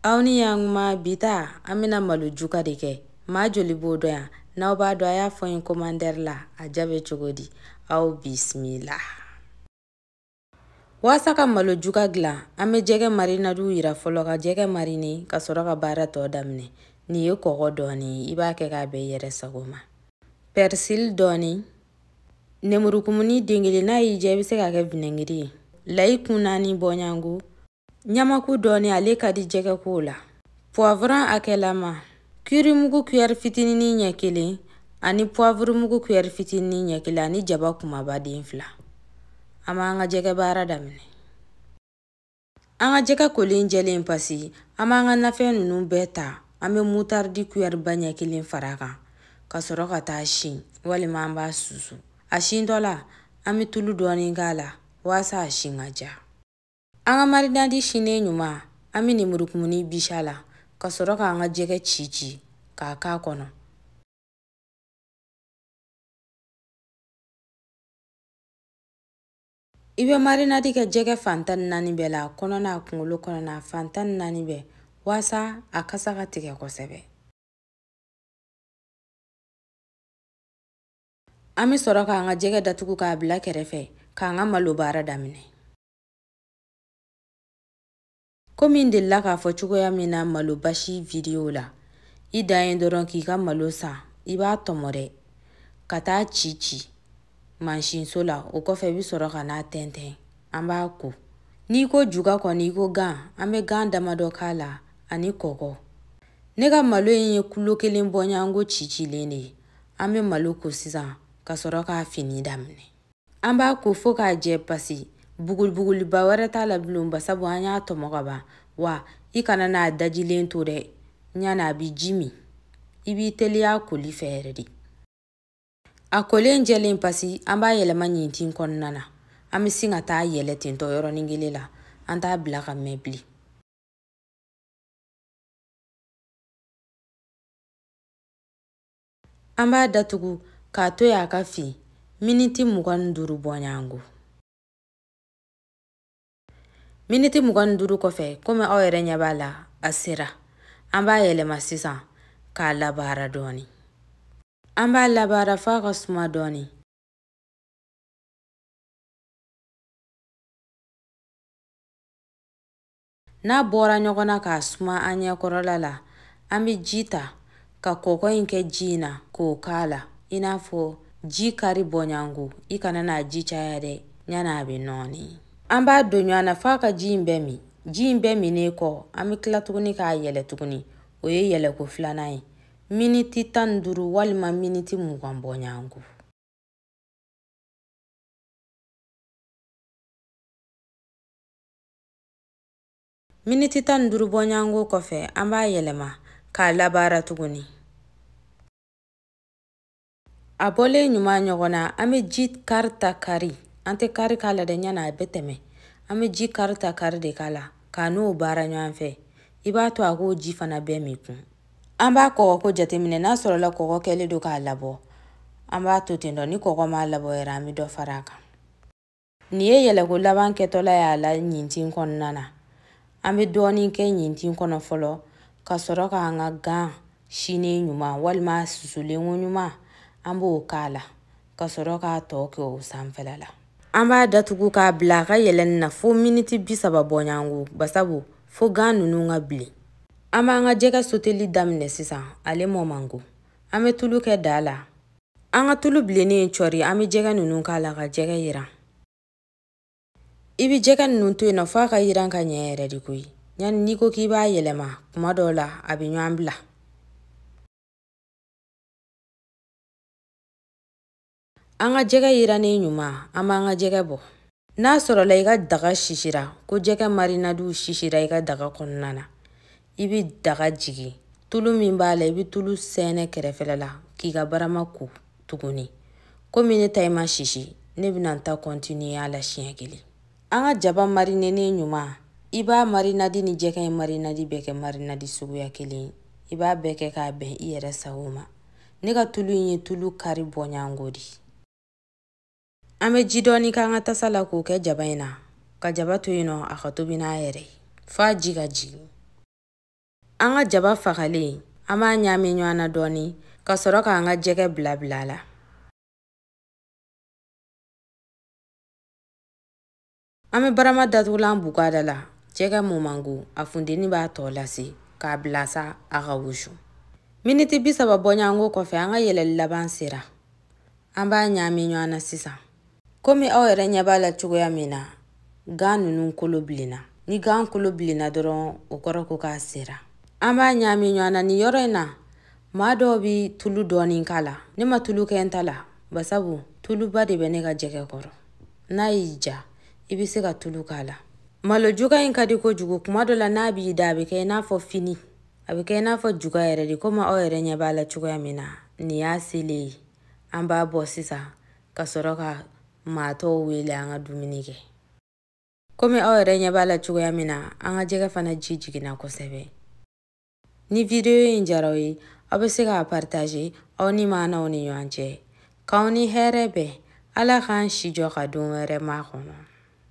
aw ni yan kuma bi ta an bɛna malo juga de kɛ maa joli b'o dɔn yan n'aw b'a dɔn a y'a fɔ n ye komantɛri la a diya bɛ cogo di aw bisimila waasa ka malo juga gilan an bɛ jɛgɛ marinadiw yira fɔlɔ ka jɛgɛ marini ka sɔrɔ ka baara tɔ daminɛ nin ye kɔgɔ dɔɔni i b'a kɛ k'a bɛn i yɛrɛ sago ma pɛrisili dɔɔni nemurukumuni den kelen n'a y'i diya i bɛ se k'a kɛ vinɛgiri ye layi kun naani bɔɲango ɲamaku dɔɔni ale ka di jɛgɛkow la puwavuran akɛlama kirimugu kuyɛri fitinini ɲɛ kelen ani puwavurumugu kuyɛri fitinini ɲɛ kelen ani jaba kumaba den fila an b'an ka jɛgɛ baara daminɛ an ka jɛgɛ kolen jɛlen pasi an b'an ka nafɛn ninnu bɛɛ ta an bɛ mutaridi kuyɛriba ɲɛ kelen far'a kan ka sɔrɔ ka taa a sin walima an b'a susu a sintɔ la an bɛ tulu dɔɔni k'a la waasa a sin ka diya An ka marinadi sinen ɲuman an bɛ nemurukumuni bisi a la ka sɔrɔ k'an ka jɛgɛ ci ci k'a k'a kɔnɔ. I bɛ marinadi kɛ jɛgɛ fan tan ni naani bɛɛ la kɔnɔna a kunkolo kɔnɔna fan tan ni naani bɛɛ waasa a kasa ka tigɛ kosɛbɛ. An bɛ sɔrɔ k'an ka jɛgɛ datugu k'a bila kɛrɛfɛ k'an ka malo baara daminɛ. komi n delila k'a fɔ cogoya min na malo basi vidiyo la i dan ye dɔrɔn k'i ka malo san i b'a tɔmɔ dɛ ka taa a ci ci mansinso la o kɔfɛ i bɛ sɔrɔ ka n'a tɛntɛn an b'a ko n'i ko juga kɔni i ko gan an bɛ gan damadɔ k'a la ani kɔgɔ ne ka malo in ye kulo kelen bɔɲanko cicilen de ye an bɛ malo ko sisan ka sɔrɔ k'a fini daminɛ an b'a ko fo k'a jɛ pasi bugulibuguliba wɛrɛ t'a la bilen ba sabu an y'a tɔmɔ ka ban wa i kana n'a dajilen to dɛ yann'a bi ji min i b'i teliya koli fɛ yɛrɛ de a kolen jɛlen pasi an b'a yɛlɛma ɲintin kɔnɔna na an bɛ sin ka taa a yɛlɛn tentɔ yɔrɔnin kelen la an t'a bila ka mɛn bilen An b'a datugu k'a to yen a ka fin miniti mugan ni duuru bɔɲango. Miniti mugan ni duuru kɔfɛ komi aw yɛrɛ ɲɛ b'a la a sera an b'a yɛlɛma sisan k'a labaara dɔɔni. An b'a labaara f'a ka suma dɔɔni. N'a bɔra ɲɔgɔn na k'a suma an ɲɛkɔrɔla la, an bɛ ji ta ka kɔgɔ in kɛ ji in na k'o k'a la i n'a fɔ ji kari bɔɲɔgɔnko i kana n'a ji caya dɛ yanni a bɛ nɔɔni an b'a don ɲɔgɔn na f'a ka ji in bɛɛ min ji in bɛɛ minnen kɔ an bɛ tila tuguni k'a yɛlɛ tuguni o ye yɛlɛko filanan ye miniti tan ni duuru walima miniti mugan bɔɲɔgɔnko Miniti tan ni duuru bɔɲɔgɔnko kɔfɛ an b'a yɛlɛma k'a labaara tuguni a bɔlen ɲuman ɲɔgɔn na an bɛ ji kari ta kari an tɛ kari k'a la dɛ yanni a bɛ tɛmɛ an bɛ ji kari ta kari de k'a la k'a n'o baara ɲɔgɔn fɛ i b'a to a k'o ji fana bɛɛ min kun an b'a kɔgɔko jateminɛ n'a sɔrɔla kɔgɔ kɛlen don k'a labɔ an b'a to ten dɔ ni kɔgɔ m'a labɔ yɛrɛ an bɛ dɔ fara a kan Nin ye yɛlɛko laban kɛtɔla y'a la ɲintin kɔnɔna na an bɛ dɔɔnin kɛ ɲintin kɔnɔ fɔlɔ ka sɔrɔ k'an ka gan sinen ɲuman walima susulen koɲuman an b'o k'a la ka sɔrɔ k'a tɔ kɛ o sanfɛla la an b'a datugu k'a bila a ka yɛlɛnni na fo miniti bi saba bɔɲɔgɔnko basabu fo gan ninnu ka bilen an b'an ka jɛgɛ soteli daminɛ sisan ale mɔ man go an bɛ tulu kɛ daa la an ka tulu bilennen cɔri an bɛ jɛgɛ ninnu k'a la ka jɛgɛ yiran i bɛ jɛgɛ ninnu to yen nɔ f'a ka yiran ka ɲɛ yɛrɛ de koyi yanni n'i ko k'i b'a yɛlɛma kuma dɔw la a bɛ ɲɔgɔn bila an ka jɛgɛ yirannen ɲuman an b'an ka jɛgɛ bɔ n'a sɔrɔla i ka daga sisira ko jɛgɛ marinadiw sisira i ka daga kɔnɔna na i bɛ daga jigin tulu min b'a la i bɛ tulu sɛnɛ kɛrɛfɛla la k'i ka barama ko tuguni komi ne ta in ma sisi ne bɛna n ta kɔntiniye a la siɲɛ kelen an ka jaba marinene ɲuman i b'a marinadi ni jɛgɛ in marinadi bɛɛ kɛ marinadi suguya kelen i b'a bɛɛ kɛ k'a bɛn i yɛrɛ sago ma ne ka tulu in ye tulu kari bɔɲɔgɔnko de ye an bɛ ji dɔɔni k'an ka tasa la k'o kɛ jaba in na ka jaba to yen nɔ a ka tobi n'a yɛrɛ ye f'a ji ka jigin an ka jaba fagalen an b'a ɲaami ɲɔgɔn na dɔɔni ka sɔrɔ k'an ka jɛgɛ bila bila a la An bɛ barama datugulan bugu a da la. Jɛgɛ mɔ man go, a funteni b'a tɔ lase, k'a bila sa a ka wusu. Miniti bi saba bɔɲɔgɔnko kɔfɛ, an ka yɛlɛli laban sera. An b'a ɲaami ɲɔgɔn na sisan. Komi aw yɛrɛ ɲɛ b'a la cogoya min na, gan ninnu kolo bilenna. Ni gan kolo bilenna dɔrɔn, o kɔrɔ ko k'a sera. An b'a ɲaami ɲɔgɔn na nin yɔrɔ in na. Maa dɔw bɛ tulu dɔɔni k'a la. Ne ma tulu kɛ n ta la, basabu tuluba de bɛ ne ka jɛgɛ kɔrɔ. n'a y'i ja i bɛ se ka tulu k'a la malo juga in ka di kojugu kuma dɔ la n'a b'i da a bɛ kɛ i n'a fɔ fini a bɛ kɛ i n'a fɔ juga yɛrɛ de komi aw yɛrɛ ɲɛ b'a la cogoya min na nin y'a selen ye an b'a bɔ sisan ka sɔrɔ ka maa tɔw wele an ka dumuni kɛ komi aw yɛrɛ ɲɛ b'a la cogoya min na an ka jɛgɛ fana ji jiginna kosɛbɛ ni vidiyo in jara aw ye aw bɛ se k'a partager aw ni maanaw ni ɲɔgɔn cɛ k'aw ni hɛrɛ bɛn ala k'an si jɔ ka don wɛrɛ makɔnɔ